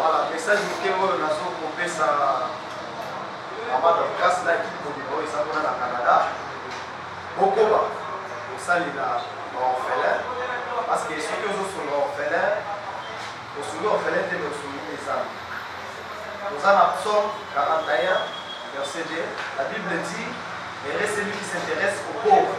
Voilà, message moke oyo nazo kopesa mama Dorcas na ekipe mobimba oyo eza kuna na Canada, bokoba kosalela baorphelin parce que soki ozosunga orphelin osungi orphelin te osungi mpe ezanga oza na psaume 41 verset 2 la bible dit erese lui qui s'intéresse aux pauvres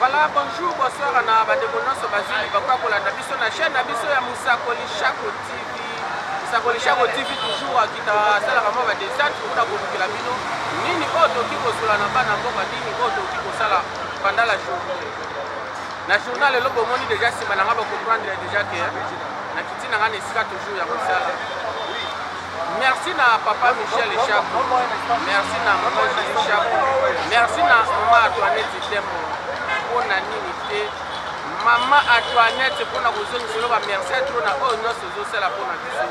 Voilà, bonjour, bonsoir na bandeko nyonso bazwi libaku ya kolanda biso na chaîne na biso ya Mosakoli Shako TV. Mosakoli Shako TV toujours akita asalaka mwa badesate mpona kolukela bino nini oyo tokoki kozwela na bana mboka, nini oyo tokoki kosala pendant la journée. Na journal lelo bomoni deja nsima na ngai bakomprendre deja ke nakiti na ngai na esika toujours ya kosala Merci na papa Michel Chapo. Merci na maman Julie Chapo. Merci na maman Antoinette Tembo. Pona nini te maman Antoinette pona kozongisa yo ba merci à trop na oyo nyonso ozosala pona biso.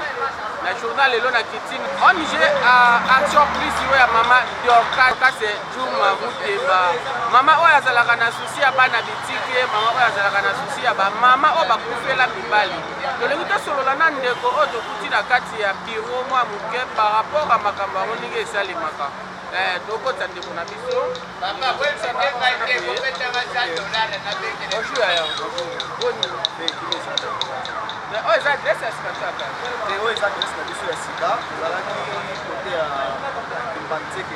Na journal lelo na kitini. ONG euh, Action Plus yo ya maman Dorcas Kase Juma Muteba. Mama oyo azalaka na souci ya bana bitike, mama oyo azalaka na souci ya ba mama oyo bakufela mibali. Tolingi tosolola na ndeko oyo tokuti na kati ya biro mwa moke par rapport ya makambo yango ndenge esalemaka. Eh, tokotisa ndeko na biso. Bonjour ya yango. Boni. Oyo eza adresse ya sika kaka. Oyo eza adresse na biso ya sika. Tozalaki kote ya Mbanzeke.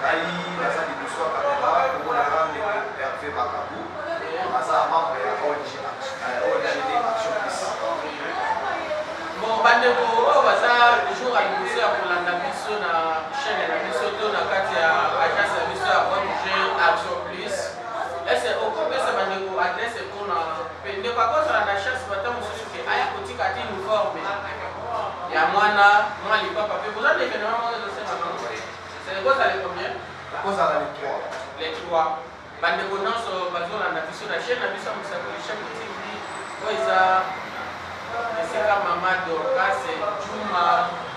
Ngai naza liboso ya camera komona kaka ndeko Herve Makabu aza membre ya ONG ONG Action Peace. Bon bandeko oyo baza jour ya liboso ya kolanda biso na chaîne na biso to na kati ya agence ya biso ya ONG Action Plus ese okopesa bandeko adresse mpona mpe ndeko akozala na chance bata mosusu ke aya kotika ti uniforme ya mwana mwa lipapa mpe boza na evenema moko Ekozala le combien? Ekozala le 3. Le 3. Bandeko nyonso bazolanda biso na chaîne na biso ya Mosakoli Shako TV oyo eza esika mama Dorcas Juma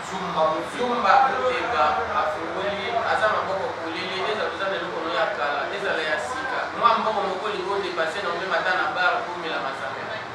Zumba Zumba Muteba afungoli aza maboko polele ezala oza na eloko no ya kala ezala ya sika mwa mbongo moko lingo depase na omema ata na bar komela masanga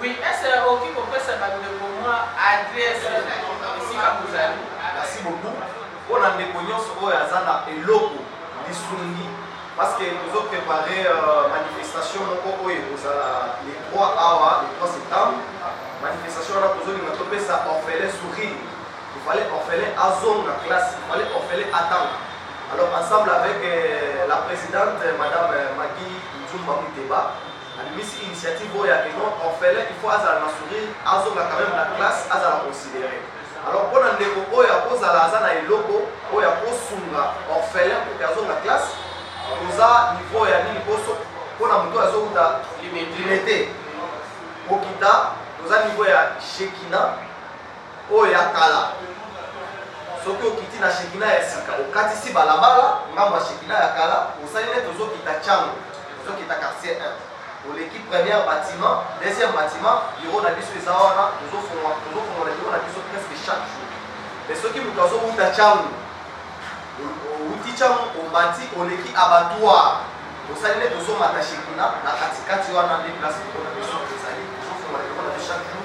Oui est ce okoki kopesa ba ndeko mwa adresse esika bozali. Merci beaucoup pona ndeko nionso oyo aza na eloko lisungi parce que tozo prepare manifestation moko oyo ekozala le 3 awa le 3 septembre manifestation wana tozolinga topesa orphelin sourire il fallait orphelin azonga classe il fallait orphelin atanga alors ensemble avec la presidente madame Maggie Nzumba Muteba Abimisi initiative oyo ya que non orphelin il faut azala na sourire azonga quand meme na classe azala considere alors pona ndeko oyo akozala aza na eloko oyo akosunga orphelin pour que azonga classe toza niveau ya nini poso pona moto oyo azowuta limete kokita toza niveau ya shekina Oyo ya kala. Soki okiti na Shekinah ya sika, okatisi balabala, ngambo ya Shekinah ya kala, osali neti ozokita Tshangu, ozokita Quartier 1. Oleki première batiment, deuxième batiment, bureau na biso eza wana, tozofongola, tozofongola bureau na biso presque chaque jour. Mais soki moto azowuta Tshangu, owuti Tshangu, omati, oleki abattoir, osali neti ozomata Shekinah, na katikati wana nde place bureau na biso ezali, tozofongola bureau na biso chaque jour.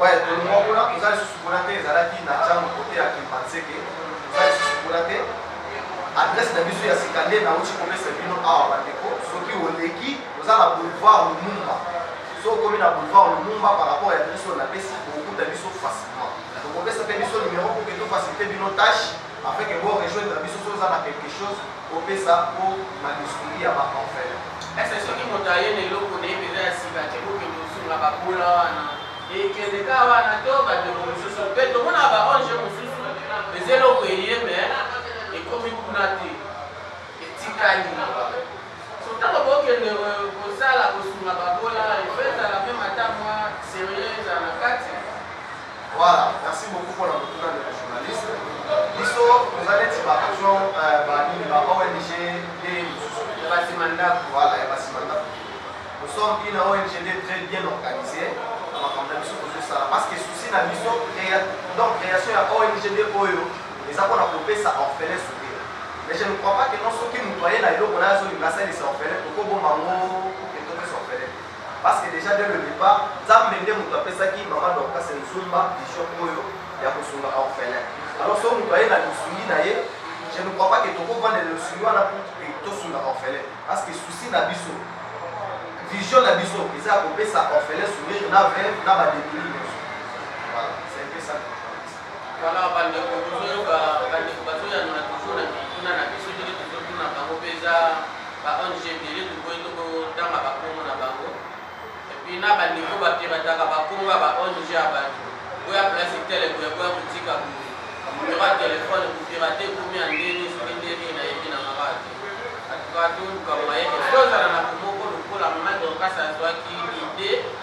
Ouais tolongua kuna toza lisusu kuna te ezalaki na chango kote ya kimpanseke toza lisusu kuna te adresse na biso ya sika nde nauti komesa bino awa bandeko soki oleki oza na boulevard lumumba so okomi na boulevard lumumba par rapport ya adresse oyo napesi okokuta biso facilement tokopesa mpe biso numero mpo ke tofacilite bino tâche afin ke bo rejoindre biso so oza na quelque chose Bopesa po ba lisuli ya ba orphelins. Est-ce que soki moto aye na eloko na ye penza ya sika te bokende kosunga ba bola wana? Ekende kaka wana to ba ndeko mosusu pe tomonaka ba ong mosusu eza eloko eye mais ekomi kuna te etikali mawa. So tango bokende kosala kosunga ba bola il faut ezala meme ata mwa serieux ezala na kati. Voilà, merci beaucoup pona motuna ndeko journaliste. Biso toza neti ba agent ba nini ba ONG nde mosusu ya basima ndako, voilà ya basima ndako. Nous sommes une ONG nde très bien organisée na makambo na biso tozosala parce que souci na biso donc création ya ONG nde oyo eza pona kopesa orphelin soupe. Mais je ne crois pas que non soki moto aye na eloko naye azolinga asalisa orphelin tokoboma yango Parce que dejà dès le depart nzambe nde mutu apesaki maman Dorcas Nzumba vision oyo ya kosunga orphelin. Alors soki mutu aye na lisungi na ye je ne crois pas que toko vanda na lisungi wana pour que tosunga orphelin parce que souci na biso vision na biso eza ya kopesa orphelin sourire na veuve na ba demuni nionso. Voilà, c'est un peu ça. Voilà ba ndeko bozo yoka ba ndeko bazo yanola toujours na mituna na biso ndenge tozo tuna bango pe eza ba ONG ebele toboyi toko tanga ba kombo na bango et puis na ba ndeko ba pirataka ba kombo ya ba ONG ya bato boya place tele boya boya kotika boye numero ya telefone kopirate ekomi ya ndenge soki ndenge nayebi na mama te en tout cas toluka moyen ozala na komoko lokola mama dorcas azwaki ide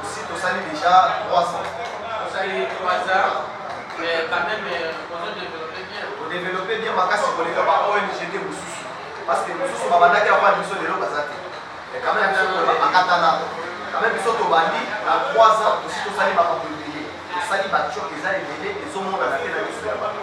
Osi tosali dejà 3 ans. Tosali 3 ans mais quand meme ozo developper bien. O developper bien makasi koleka ba ONG te mosusu parce que mosusu babandaki avant na biso lelo baza te mais quand meme biso bakatana quand meme biso tobandi na 3 ans osi tosali makambo ebele tosali ba choc eza ebele ezomonana te na miso ya bato.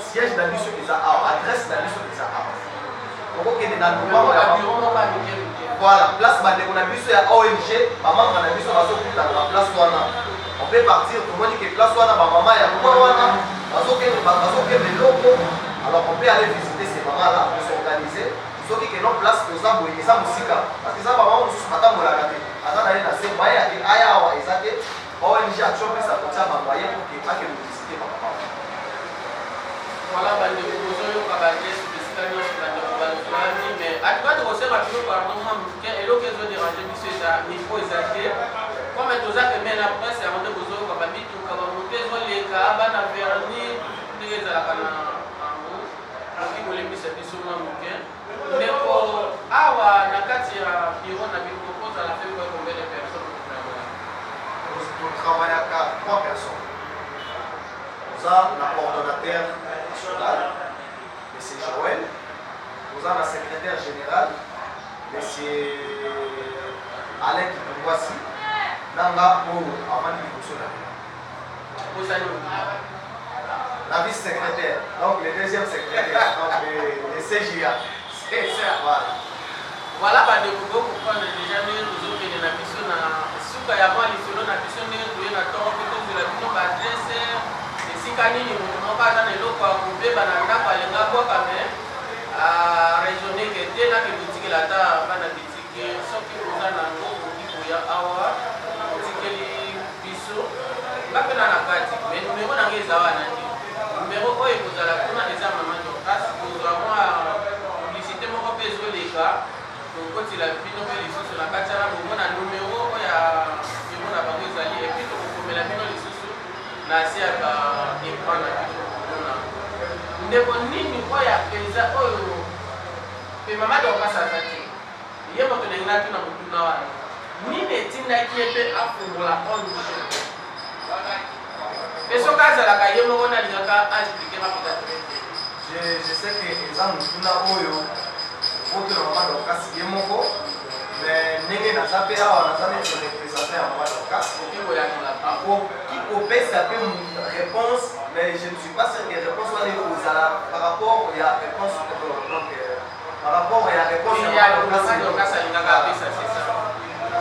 Siège na biso eza awa, adresse na biso eza awa. Okokende na lopango ya voilà, place bandeko na biso ya ONG, bamambre na biso bazokutana na place wana. On peut partir, tomoni que place wana bamama ya mwa wana bazokende loko, alors on peut aller visiter ces mamans là, on s'organiser soki que non place toza boye eza mosika parce que eza bamama mosusu batambolaka te aza na ye na se baye aya awa eza te Ba ONG action mpe sa kotia ba moyen pour que akende visiter ba papa wana. Voilà ba ndeko bozoyoka ba geste bisika nyonso ba ndeko baluzwani mais atuka tokosenga bino pardon mwa moke eloko ezo déranger biso eza micro eza te comme toza pembeni na presse yango nde bozoyoka ba mituka ba moto ezoleka bana verni ndenge ezalaka na yango oki kolembisa biso mwa moke Ndeko awa na kati ya bureau na bino bokozala pe moins combien de personnes ko travailler? To travaillaka trois personnes. Toza na coordonnateur national monsieur Joël, toza na secretaire general monsieur Alain Kitungwasi na nga oyo avandi liboso na bino. Bozali mobimba. La vice secrétaire, donc le deuxième secrétaire, donc le, le CJA. C'est ça. Voilà. Voilà bandeko bo comprendre déjà ndenge tozokende na biso na suka ya mwa lisolo na biso ndenge toye na ntongo mpe tozela bino baadrese esika nini moto moko aza na eloko ya kobeba na ndako alinga bwaka me araisonne ke te na kekotikela ata bana bitike soki oza na yango okoki koya awa biso nga pe na na kati mais numero na nga eza wana te numero oyo ekozala kuna eza maman dorcas kozwa mwa publicité moko pe ezoleka tokotila bino pe lisusu na kati wana bomona numero oyo ya biro na bango ezali epuis tokokomela bino lisusu na se ya ba ecran na bino komona ndeko nini oyo apeza oyo pe maman dorcas aza te Ye moto na ngai atuna motuna wana, Nini etindaki ye mpe afungola Onde Jeune? Mpe soki azalaka ye moko nalingaka a expliquer nga mpenza tres bien. Je je sais que eza motuna oyo okotuna mama Dorcas ye moko, mais ndenge naza mpe awa naza neti representant ya mama Dorcas, Okoki koyanola bango. Nakoki kopesa mpe reponse, mais je ne suis pas sur que reponse wana ekozala par rapport ya reponse donc. par rapport ya réponse ya Mama Dorcas Mama Dorcas alingaka apesa c'est ça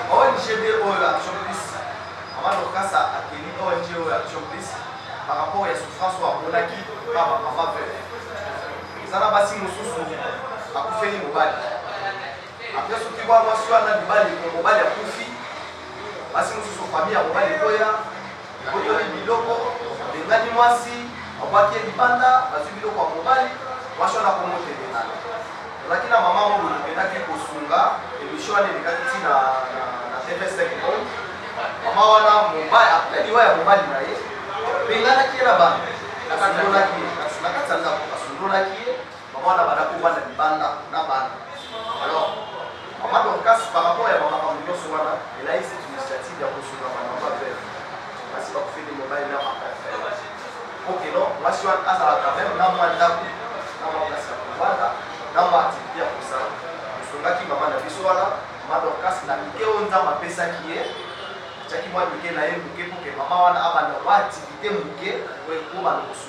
ONG de oyo action plus Mama Dorcas akeli ONG oyo action plus par rapport ya souffrance oyo amonaki pa ba mama veuve eza na basi mosusu akufeli mobali apres soki bwa mwasi wana mibali mobali akufi basi mosusu famille ya mobali ekoya Boyoli biloko, Abengani mwasi, babwaki ye libanda, bazwi biloko ya mobali, mwasi wana akomi motelemana. Tozalaki na mama moko boye tokendaki kosunga, emission wana elekaki ti na TV5 Monde. Mama wana mobali, après liwa ya mobali na ye, abenganaki ye na bana, asundola ki ye, na kati ya ndako, asundolaki ye. Maman na bana ko bana libanda na bana. Alors, maman Dorcas par rapport ya maman Kambo Nyoso wana, elle a eu cette initiative ya kosunga bana maman veuve. Basi ba kufeli mobali na maman veuve. Ok non, mwasi wana azala quand même na mwa ndako, na mwa place ya kovanda, na mwa activité ya kosala. Tosungaki maman na biso wana, maman Dorcas na mike oyo Nzambe apesaki ye, atiaki mwa mike na ye moke mpo ke maman wana abanda mwa activité moke oyo ekobana kosunga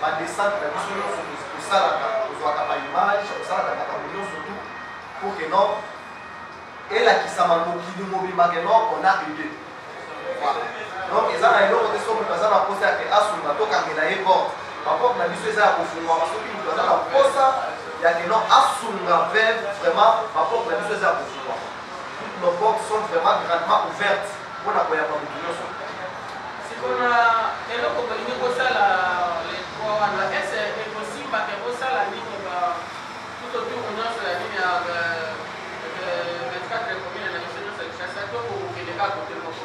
Ba descente na biso nyonso tosalaka, tozwaka ba image, tosalaka makambo nyonso tout pour que non elakisama mokili mobimba que non on a aidé. Voilà. Donc eza na eloko te soki moto aza na mposa ya ke asunga tokangela ye porte. Ba porte na biso eza ya kofungwama soki moto aza na mposa ya ke non asunga veuve vraiment ba porte na biso eza ya kofungwama. Toutes nos portes sont vraiment grandement ouvertes. Mpo na koyamba moto nyonso. Sikoyo na eloko bolingi kosala le 3 wana ese ekosimba ke bosala nini ba tout autour nyonso ya nini ya euh, 24 euh, commune na biso nyonso ya Kinshasa to kokende kaka kote moko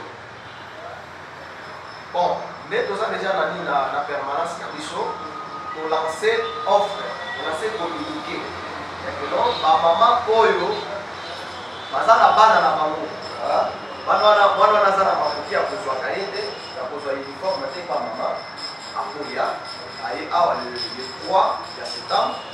Bon nde toza dejà na nini na permanence na biso to lance offre to lance communique ya que non ba maman oyo baza na bana na bango bana wana mwana wana aza na makoki ya kozwaka ye te ya kozwa uniforme te pa mama akoya aye awa le 3 ya septembre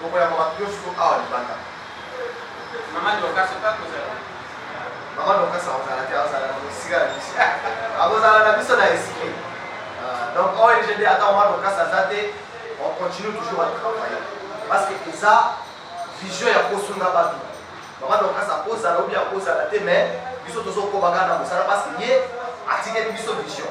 Tokoyamba bato nionso to awa libanda. Maman Dorcas okoya kozala? Maman Dorcas akozala te, akozala na mosika na biso. Akozala na biso na esprit. Euh, donc ONG nde ata Maman Dorcas aza te, on continue toujours à travailler. Parce que eza vision ya kosunga bato. Maman Dorcas akozala ou bien akozala te mais biso tozokoba kaka na mosala parce que ye atikeli biso vision.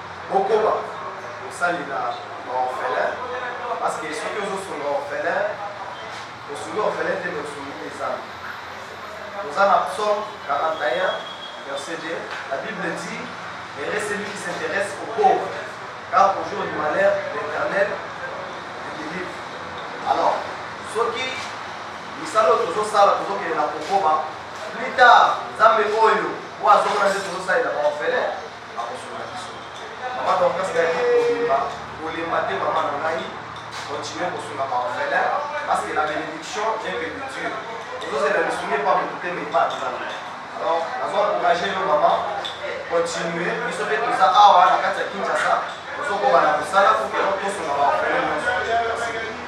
Bokoba kosalela ba orphelins parce que soki ozo sunga orphelin osungi orphelin te mais osungi pe zambe. Toza na psaume 41 verset 2 la bible dit heureux celui qui s'intéresse aux pauvres car au jour du malheur l'Eternel le délivre. Alors soki misala oyo tozosala tozokende na kokoba plus tard nzambe oyo oyo azomona nde tozosalela ba orphelin akosunga biso mama dorcas dadi kobima kolemba te mama na ngai continue kosunga baorphelin parce que la bénédiction vient que de dieu ozozela lisungi epa motu te mais epa nzambe alors nazo encourage yo mama continue biso mpe toza awa na kati ya kinshasa tozokoba na mosala po tosunga baorphelin nyonso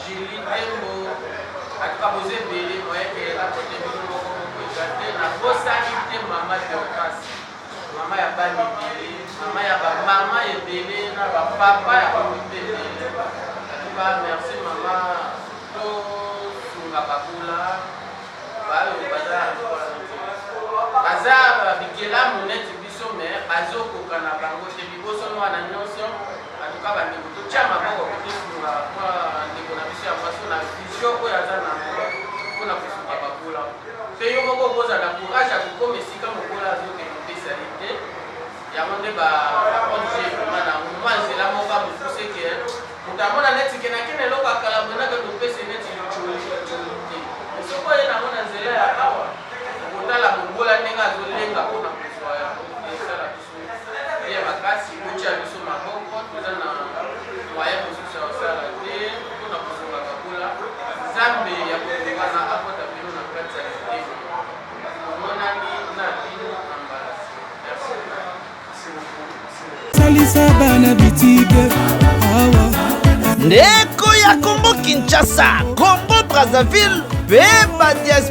Julie Tembo, atuka bozo ebele moyeke akote bino moko moko eza te na bosani te mama Dorcas mama ya bana ebele mama ya bamama ebele na bapapa ya bamoto ebele atuka merci mama tosunga babola bayo baza baza bikelamu neti biso me bazokoka na bango te biboso mwana nyonso En tout cas ba ndeko to tia maboko pe to sunga mwa ndeko na biso ya mwasi na vision oyo aza na ngo pona ko sunga ba bola. Pe yo moko oko za na courage ya ko koma esika mobola azo kende pe ezali te. Yango nde ba ONG ekomana na ngo mwa nzela moko ya mokuse ke moto amona neti ke na ken eloko ya kala boye na kende opesa ye neti litsholi litsholi te. Mais soki oye na ngo na nzela ya awa oko tala mobola ndenge azo lenga pona salisa bana bitike awa ndeko ya kongo kinshasa kongo brazzaville mpe badias